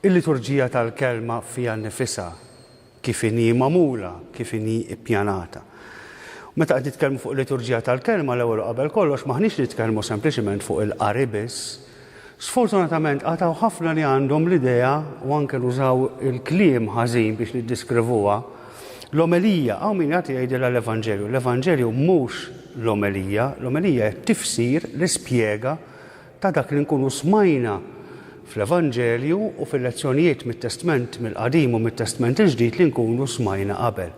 Il-liturġija tal-Kelma fiha nnifisha, kif inhi magħmula, kif inhi ppjanata. U meta qed nitkellmu fuq il-liturġija tal-Kelma, l-ewwel u qabel kollox m'aħniex nitkellmu sempliċement fuq il-qari biss. Sfortunatament għad hawn ħafna li għandhom l-idea u anke nużaw il-kliem ħażin biex niddiskrivuha, l-omelija, hawn min jagħti jgħidilha l-Evanġelju. L-Evanġelju mhux l-omelija, l-omelija hija t-tifsir, l-ispjega ta' dak li nkunu smajna fl-Evanġelju u fil-lezzjonijiet mit-Testment mill-Qadim u mit-Testment il-Ġdid li nkunu smajna qabel.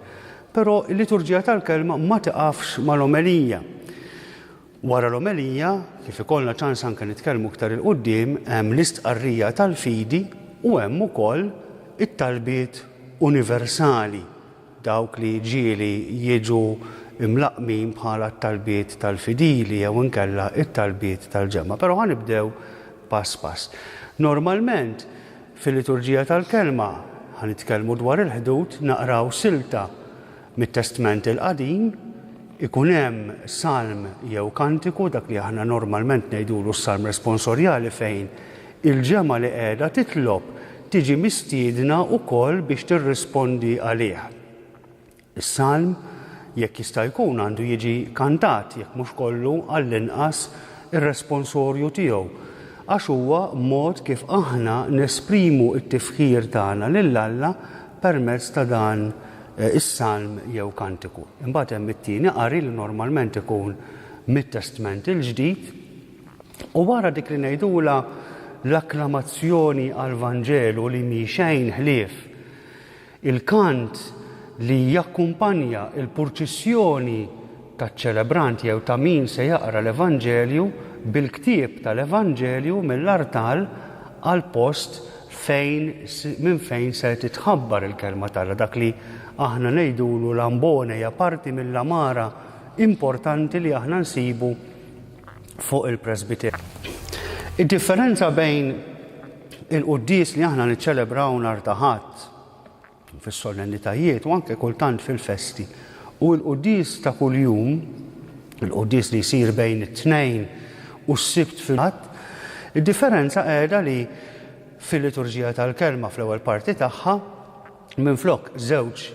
Però il-liturġija tal-kelma ma tiqafx mal-omelija. Wara l-omelija, kif ikollna ċans anke nitkellmu iktar il quddiem, hemm l-istqarrija tal-fidi u hemm ukoll it-talbiet universali. dawk li ġieli jiġu mlaqqmin bħala t-talbiet tal-fidili jew inkella t-talbiet tal-ġemgħa. Però ħa nibdew pass pass. Normalment, fil-Liturġija tal-Kelma, ħa nitkellmu dwar il-Ħdud, naqraw silta mit-Testment il-Qadim, ikun hemm salm jew kantiku, dak li aħna normalment ngħidulu s-salm responsorjali fejn il-ġemgħa li qiegħda titlob tiġi mistiedna wkoll biex tirrispondi għalih. Is-salm, jekk jista' jkun, għandu jiġi kantat, jekk mhux kollu, għall-inqas ir-responsorju tiegħu, għax huwa mod kif aħna nesprimu t-tifħir tagħna lil Alla permezz ta' dan is-salm jew kantiku. Imbagħad hemm it-tieni qari li normalment ikun mit-Testment il-Ġdid, U wara dik li ngħidulha l-akklamazzjoni għall-Vanġelu li mhi xejn ħlief il-kant li jakkumpanja l-purċissjoni taċ-ċelebrant jew ta' min se jaqra l-Evanġelju bil-ktieb tal-Evanġelju mill-artal għall-post fejn minn fejn se titħabbar il-Kelma t'Alla, dak li aħna ngħidulu l-ambone hija parti mill-għamara importanti li aħna nsibu fuq il-Presbiteru. Id-differenza bejn il-quddies li aħna niċċelebraw nhar ta' Ħadd fis-solennitajiet u anke kultant fil-festi u l-quddies ta' kuljum, il-quddies li jsir bejn it-tnejn u s-sibt fil-ħadd, id-differenza qiegħda li fil-liturġija tal-kelma fl-ewwel parti tagħha Minflok żewġ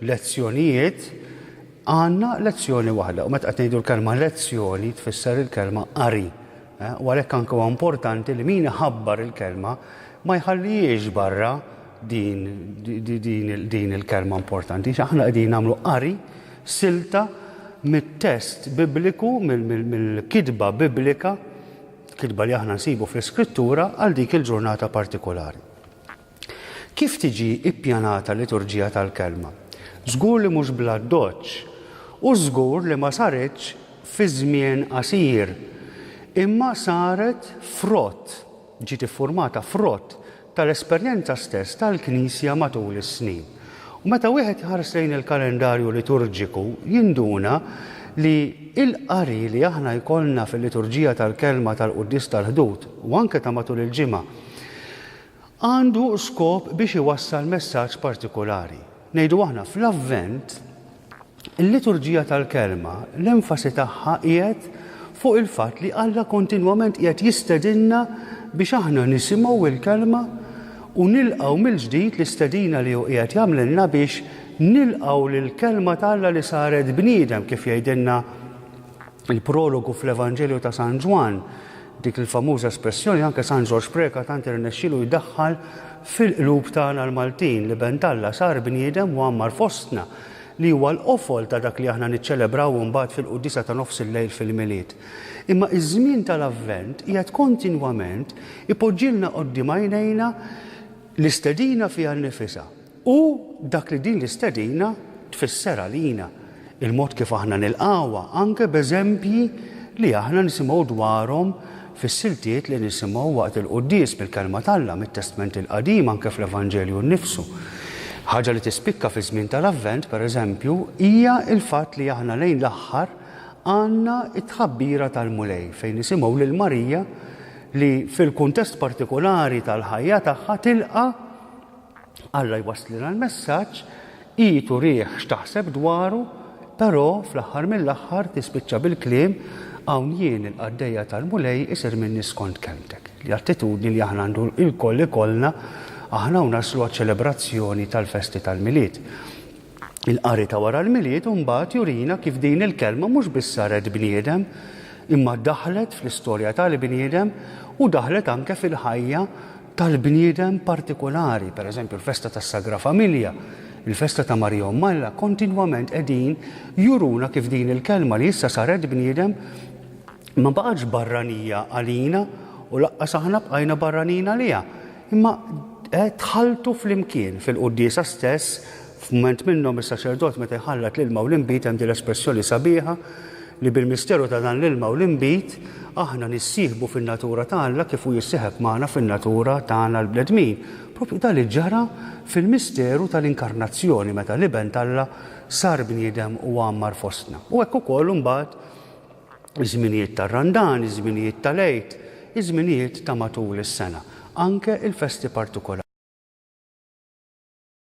lezzjonijiet, għandna lezzjoni waħda. U meta qed ngħidu l-kelma lezzjoni tfisser il-kelma qari. Eh, u għalhekk anke huwa importanti li min iħabbar il-kelma ma jħallihiex barra din, din il-kelma importanti. Aħna qegħdin nagħmlu qari silta mit-test bibliku, mill-kitba biblika, kitba li aħna nsibu fl-iskrittura għal dik il-ġurnata partikolari. Kif tiġi ppjanata liturġija tal-Kelma? Żgur li mhux bl-addoċċ u żgur li ma saritx fi żmien qasir, imma saret frott, ġiet iffurmata frott tal-esperjenza stess tal-Knisja matul is-snin. U meta wieħed iħares lejn il-kalendarju liturġiku jinduna li l-qari li aħna jkollna fil-liturġija tal-Kelma tal-Quddies tal-Ħdud u anke ta' matul il-ġimgħa Għandu skop biex iwassal messaġġ partikulari. Ngħidu aħna, fl-Avvent, il-liturġija tal-Kelma, l-enfasi tagħha qiegħed fuq il-fatt li Alla kontinwament qiegħed jistedinna biex aħna nisimgħu l-Kelma u nilqgħu mill-ġdid l-istedina li hu qiegħed jagħmlilna biex nilqgħu lill-Kelma t'Alla li saret bniedem kif jgħidilna Il-prologu fl-Evanġelju ta' San Ġwann, dik il-famuża espressjoni anke San Ġorġ Preca tant irnexxielu jdaħħal fil-qlub tagħna l-Maltin li Ben t'Alla sar bniedem u għammar fostna, li huwa l-qofol ta' dak li aħna niċċelebraw imbagħad fil-Quddiesa ta' Nofs il-Lejl fil-Milied. Imma ż-żmien tal-Avvent qiegħed kontinwament ipoġġilna quddiem għajnejna l-istedina fiha nnifisha. U dak li din l-istedina tfisser għalina, il-mod kif aħna nilqgħuha anke b'eżempji li aħna nisimgħu dwarhom fis-siltiet li nisimgħu waqt il-quddies mill-Kelma t'Alla, mit-Testment il-Qadim, anke fl-Evanġelju nnifsu. Ħaġa li tispikka fiż-żmien tal-Avvent, pereżempju, hija l-fatt li aħna lejn l-aħħar għandna t-tħabbira tal-Mulej fejn nisimgħu lil Marija li fil-kuntest partikulari tal-ħajja tagħha tilqa' Alla jwasslilna l-messaġġ, hi turih x'taħseb dwaru, però fl-aħħar mill-aħħar tispiċċa bil-kliem, Hawn jien il-qaddejja tal-Mulej isir minni skont kelmtek. L-attitudni li aħna għandu lkoll ikollna, aħna u naslu għaċ-ċelebrazzjoni tal-festi tal-Milied. Il-qari ta' wara l-Milied imbagħad jurina kif din il-kelma mhux biss saret bniedem, imma daħlet fl-istorja tal-bniedem u daħlet anke fil-ħajja tal-bniedem partikulari, pereżempju l-festa tas-Sagra Familja, il-festa ta' Marija Omm Alla, kontinwament qegħdin juruna kif din il-kelma li issa saret bniedem ma baqgħetx barranija għalina u lanqas aħna bqajna barranin għaliha, imma dħaltu flimkien fil-quddiesa stess F'mument minnhom is-saċerdot meta jħallat l-ilma u l-inbid hemm din l-espressjoni sabiħa li bil-misteru ta' dan l-ilma u l-inbid aħna nissieħbu fin-natura ta' Alla kif hu jissieħeb magħna fin-natura tagħna l-bnedmin. Proprju dan li ġara fil-misteru tal-inkarnazzjoni meta l-Iben t'Alla sar bniedem u għammar fostna. U hekk ukoll imbagħad iż-żminijiet tar-Randan, iż-żminijiet tal-Għid, iż-żminijiet ta' matul is-sena, anke l-festi partikolari.